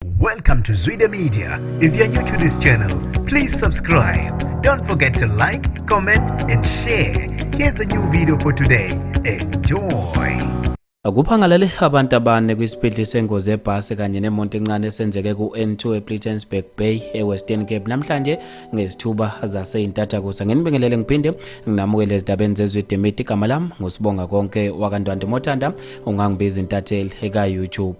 Welcome to Zwide Media. If you're new to this channel, please subscribe. Don't forget to like, comment and share. Here's a new video for today. Enjoy. Kuphangalele abantu abane kwisibhedli sengozi ebhasi kanye nemonto encane esenzeke ku-N2 ePlittensburg Bay eWestern Cape namhlanje ngezithuba zaseyintatha kusa ngenibingelele ngiphinde nginamukele ezindabeni zezwe demiti igama lami ngusibonga konke wakandwande mothanda ungangibiza intatheli eka-YouTube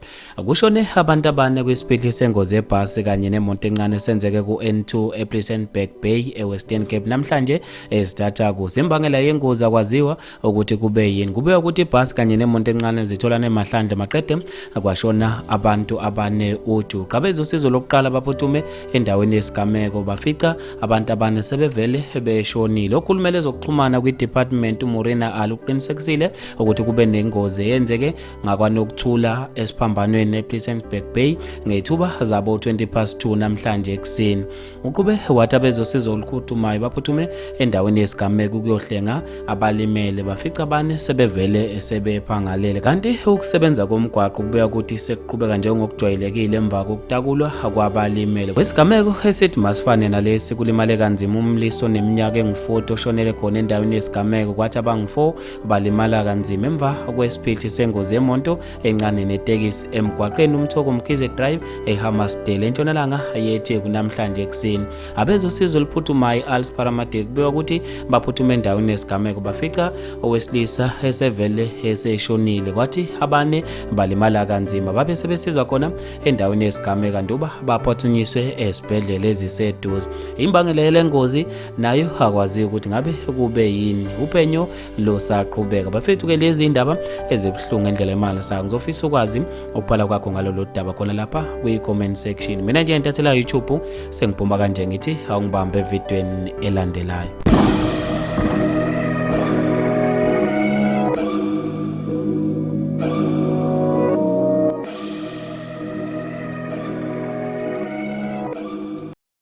Kushone abantu abane kwisiphithi sengozi yebhasi kanye nemoto encane esenzeke ku-N2 ePlissenberg Bay eWestern Cape namhlanje ezithatha kuso. Imbangela yengozi akwaziwa ukuthi kube yini. Kube ukuthi ibhasi kanye nemoto encane zitholana emahlandla maqede kwashona abantu abane uju. Qabeza usizo lokuqala baphuthume endaweni yesigameko bafica abantu abane sebevele beshonile. Okhulumela ezokuxhumana kwiDepartment uMorena Ali uqinisekisile ukuthi kube nengozi eyenzeke ngakwanokuthula esiphambanweni ePlisensburg Bay ngethuba zabo 20 past 2 namhlanje ekuseni uqhube wathi abezosiza olukhuthumayo baphuthume endaweni yesigameko ukuyohlenga abalimele bafica abane sebevele sebephangalele kanti ukusebenza komgwaqo kubuya ukuthi sekuqhubeka njengokujwayelekile emva kokutakulwa kwabalimele kwesigameko esithi masifane nalesi kulimale kanzima umlisa oneminyaka engu-40 oshonele khona endaweni yesigameko kwathi abangu-4 balimala kanzima emva kwesiphithi sengozi yemonto encane netekisi emgwaqeni umthoko mkhize drive ehammasdale entshonalanga yethe kunamhlanje ekuseni abezosizo oluphuthumayo i-als paramadic kubikwa ukuthi baphuthume endaweni yesigameko bafica owesilisa esevele eseshonile kwathi abane balimala kanzima babe sebesizwa khona endaweni yesigameko kanti uba baphuthunyiswe esibhedlela eziseduze imbangela yale ngozi nayo akwaziyo ukuthi ngabe kube yini uphenyo lusaqhubeka bafethu ke lezi indaba ezibuhlungu endlela imali sa ngizofisa ukwazi ukubhala kwakho ngalolu daba khona lapha kwi-comment section mina nje ntathela youtube sengibhuma kanje ngithi awungibambe evidweni elandelayo